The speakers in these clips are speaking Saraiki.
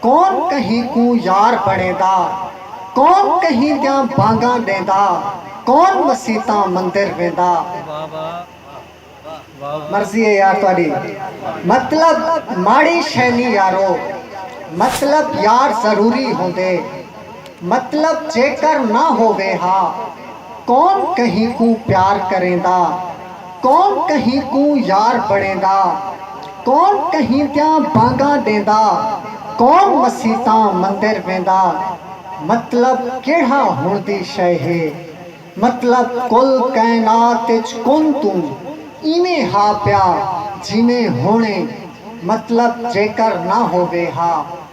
کون کہیں کوں یار بݨیندا کون کہیں دیاں بانگاں ݙیندا کون مسیتاں مندر ویندا مرضی اے یار تہاݙی مطلب ماڑی شئے نی یارو مطلب یار ضروری ہوندے۔ مطلب جیکر نہ ہووے ہا کون کہیں کوں پیار کریندا کون کہیں کوں یار بݨیندا کون کہیں دیاں بانگاں ݙیندا کون مسیتاں مندر ویندا مطلب کیڑھا ہݨ دی شئے ہے مطلب کل کائنات اچ کن توں ایویں ہا پیا جیویں ہݨ اے مطلب جیکر نہ ہووے ہا۔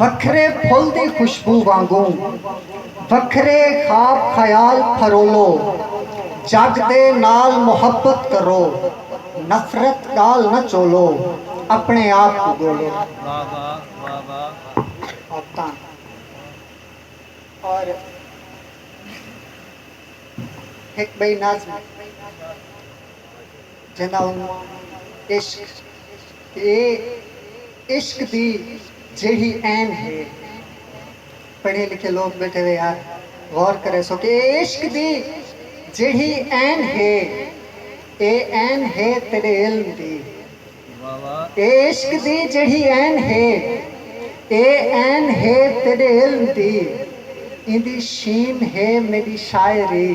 وکھرے پھل دی خوشبو وانگوں وکھرے خواب خیال پھرولو جگ دے نال محبت کرو نفرت ڳال نہ چولو اپݨے آپ کوں ڳولو واہ واہ واہ واہ عادتاں اور ہک ٻئی نظم۔ جنہاں عشق اے عشق دی جیہڑی عین ہے۔ پڑھے لکھے لوک بیٹھے ہوئے ہن غور کریسو کہ اے عشق دی جیہڑی عین ہے اے عین ہے تیڈے علم دی۔ اے عشق دی جیہڑی عین ہے اے عین ہے تیڈے علم دی ایندی شین ہے میڈی شاعری۔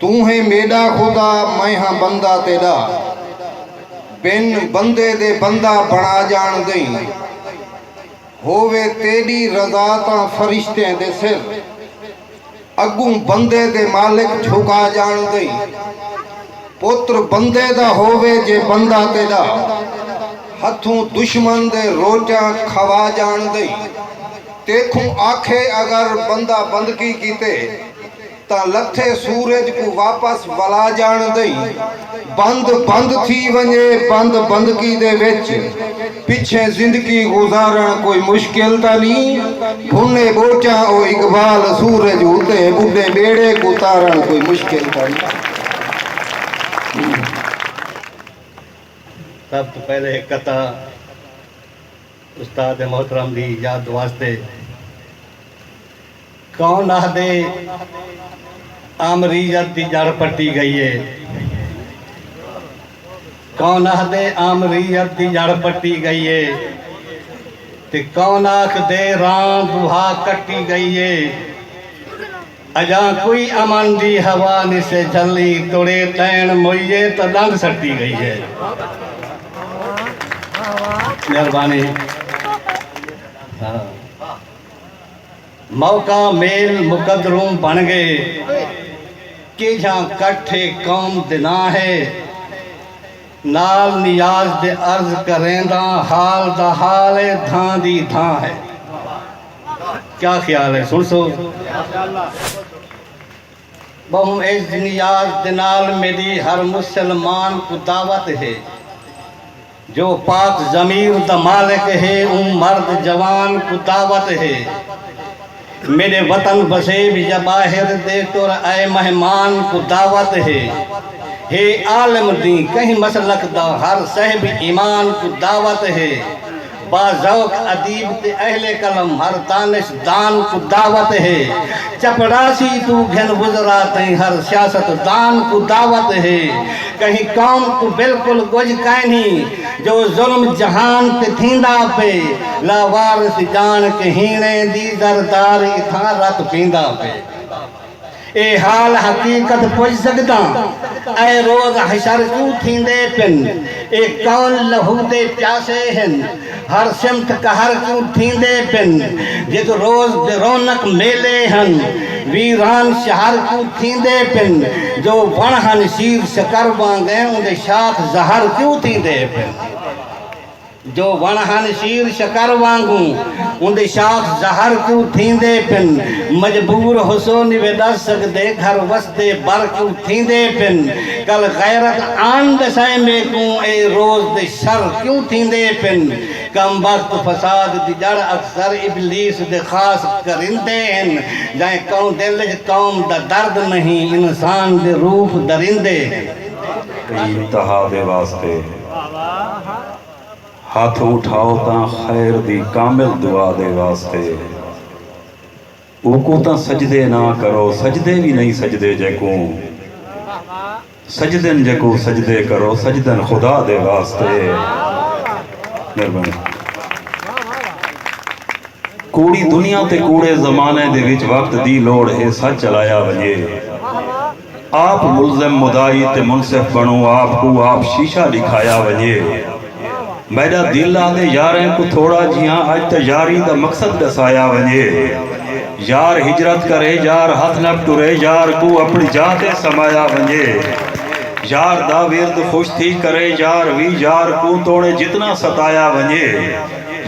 توں ہیں میݙا خدا میں ہاں بندہ تیݙا بن بندے دے بندہ بݨا ڄاݨ دئیں ہووے تیݙی رضا تاں فرشتیں دے سر اڳوں بندے دے مالک جھکا ڄاݨ دئیں پتر بندے دا ہووے جے بندہ تیݙا ہتھوں دشمن دے روٹیاں کھوا ڄاݨ دئیں تیکھوں آکھے اگر بندہ بندگی کیتے تاں لتھے سورج کوں واپس ولا جاݨ دئیں بند بند تھی ونڄے بند بندکی دے وچ پچھیں زندگی گزارݨ کوئی مشکل تاں نی بھنے ٻوچاں او اقبال سورج اتے ٻڈھے ٻیڑے کوں تارݨ کوئی مشکل تاں نی۔ سب توں پہلے ہک قطعہ استاد محترم دی یاد واسطے۔ کون آہدے آمریت دی جڑ پٹی گئی ہے کون آہدے آمریت دی جڑ پٹی گئی ہے تے کون آکھدے ران دوہا کٹی گئی ہے اجاں کوئی امن دی ہوا نسے جھلی توڑے تین موئیے تو ڈنگ سٹی گئی ہے مہربانی ہاں۔ موقع میل مقدروں بن گئے کیجھاں کٹھ اے قوم دناں ہے نال نیاز دے عرض کرینداں حال دا حال اے دھاں دی دھاں ہے کیا خیال ہے سنسو ٻہوں اعزنیاز دے نال میݙی ہر مسلمان کوں دعوت ہے جو پاک ضمیر دا مالک ہے اوں مرد جوان کوں دعوت ہے میݙے وطن وسیب یا ٻاہر دے ٹر آئے مہمان کوں دعوت ہے ہے عالم دین کہیں مسلک دا ہر صاحب ایمان کوں دعوت ہے با ذوق ادیب تے اہل قلم ہر دانش دان کوں دعوت ہے چپڑاسی توں گھن وزراء تئیں ہر سیاست دان کوں دعوت ہے کہیں قوم کوں بالکل کجھ کائنی جو ظلم جہان تے تھیندا پئے لا وارث جان کہیں دی زرداری تھاں رت پیندا پئے اے حال حقیقت پج سگداں اے روز حشر کیوں تھیندے پن اے کون لہودے پیاسے ہن ہر سمت قہر کیوں تھیندے پن جت روز دے رونق میلے ہن ویران شہر کیوں تھیندے پن جو وݨ ہن شیر شکر وانگیں اوندے شاخ زہر کیوں تھیندے پن۔ جو وݨ ہن شیر شکر وانگوں اوندے شاخ زہر کوں تھیندے پن مجبور ہسو نیوے ڈس سگدے گھر وسدے بر کوں تھیندے پن کل غیرت آن ڈسائے میکوں اے روز تے شر کیوں تھیندے پن کم بخت فساد دی جڑ اکثر ابلیس دے خاص کرندے ہن جائیں کوں دل اچ قوم دا درد نہیں انسان دے روپ دریندے ہن۔ انتہا دے واسطے۔ ہتھ اٹھاؤ تاں خیر دی کامل دعا دے واسطے اوکوں تاں سجدے نہ کرو سجدے وی نئیں سجدے جیکوں سجدن جیکوں سجدے کرو سجدن خدا دے واسطے مہربانی کوڑی دنیا تے کوڑے زمانے دے وچ وقت دی لوڑ ہے سچ چلایا ونجے آپ ملزم مدعی تے منصف بنو آپ کوں آپ شیشہ ڈکھایا ونجے میڈا دل آندے یاریں کوں تھوڑا جیاں اج تے یاری دا مقصد ڈسایا ونجے یار ہجرت کرے یار ہتھ نپ ٹرے یار کوں اپنی جاہ تے سمایا ونجے یار دا ورد خوش تھی کرے یار وی یار کوں توڑیں جتنا ستایا ونجے۔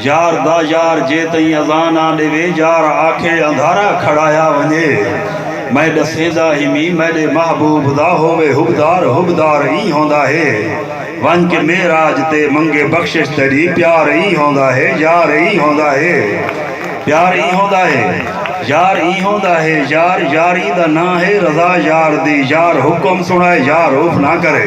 یار دا یار جے تئیں اذاں نہ ݙیوے یار آکھے اندھارا کھڑایا ونڄے میں ݙسیندا ہیمی میݙے محبوب دا ہووے حبدار حبدار ای ہوندا ہے ونڄ کے معراج تے منگے بخشش تیݙی پیار ای ہوندا ہے یار ای ہوندا ہے پیار ای ہوندا ہے یار ای ہوندا ہے یار یار ایندا ناں ہے رضا یار دی یار حکم سݨائے یار اف نہ کرے۔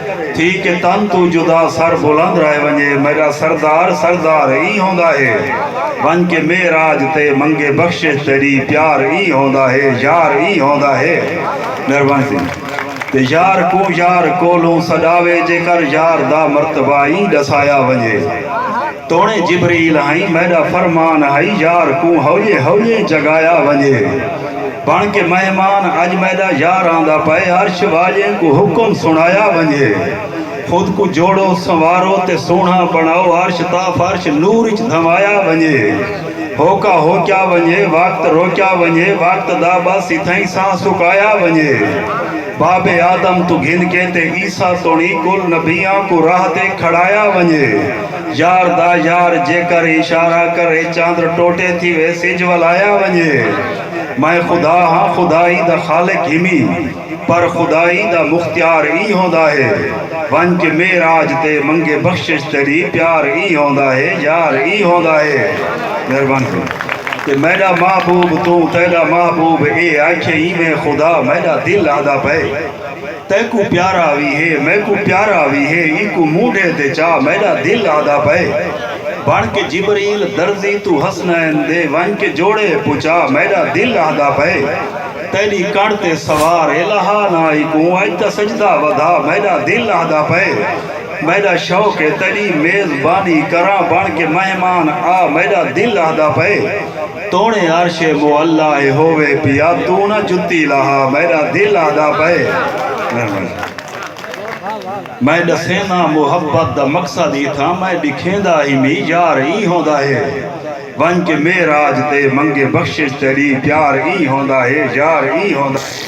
تھی کہ تن توں جدا سر بلند رہ ونجے میڈا سردار سردار ای ہوندا ہے ونج کے معراج تے منگے بخشش تیڈی پیار ای ہوندا ہے یار ای ہوندا ہے مہربانی تھی تے یار کوں یار کولوں سڈاوے جیکر یار دا مرتبہ ای ڈسایا ونجے۔ توڑیں جبریل ہئیں میڈا فرمان ہئی یار کوں ہویے ہویے جگایا ونجے بن کے مہمان اج میڈا یار آندا پئے عرش واجیں کوں حکم سنڑایا ونجے خود کوں جوڑو سنوارو تے سوہنڑا بنڑاؤ عرش تا فرش نور اچ دھمایا ونجے ہوکا ہوکیا ونجے وقت روکیا ونجے وقت دا بس اتھئیں ساہ سکایا ونجے باب آدم توں گھن کے تے عیسی توڑیں کل نبیاں کوں راہ تے کھڑایا ونجے۔ یار دا یار جیکر اشارہ کرے چاندر ٹوٹے تھی وے سج ولایا ونجے میں خدا ہاں خدائی دا خالق ہیمی پر خدائی دا مختیار ای ہوندا ہے ونج کے میراج تے منگے بخشش تیری پیار ای ہوندا ہے یار ای ہوندا ہے مہربان کرو تے میڈا محبوب توں تیڈا محبوب اے آکھے ایویں خدا میڈا دل آدھا پئے تیکوں پیارا وی ہے میکوں پیارا وی ہے اینکوں مونڈھے تے چا میڈا دل آہدا پئے بن کے جبریل درزی توں حسنین دے ونج کے جوڑے پچا میڈا دل آہدا پئے تیڈی کڑ تے سوار الہا نا اینکوں اج تاں سجدہ ودھا میڈا دل آہدا پئے میڈا شوق ہے تیڈی میز بانی کراں بن کے مہمان آ میڈا دل آہدا پئے۔ توڑیں عرش معلی ء ہووے پیا توں نہ جتی لہا میڈا دل آہدا پئے میں ڈسینداں محبت دا مقصد اتھاں میں ڈکھیندا ہی می یار ای ہوندا ہے ونج کے معراج تے منگے بخشش تیڈی پیار ای ہوندا ہے یار ای ہوندا ہے۔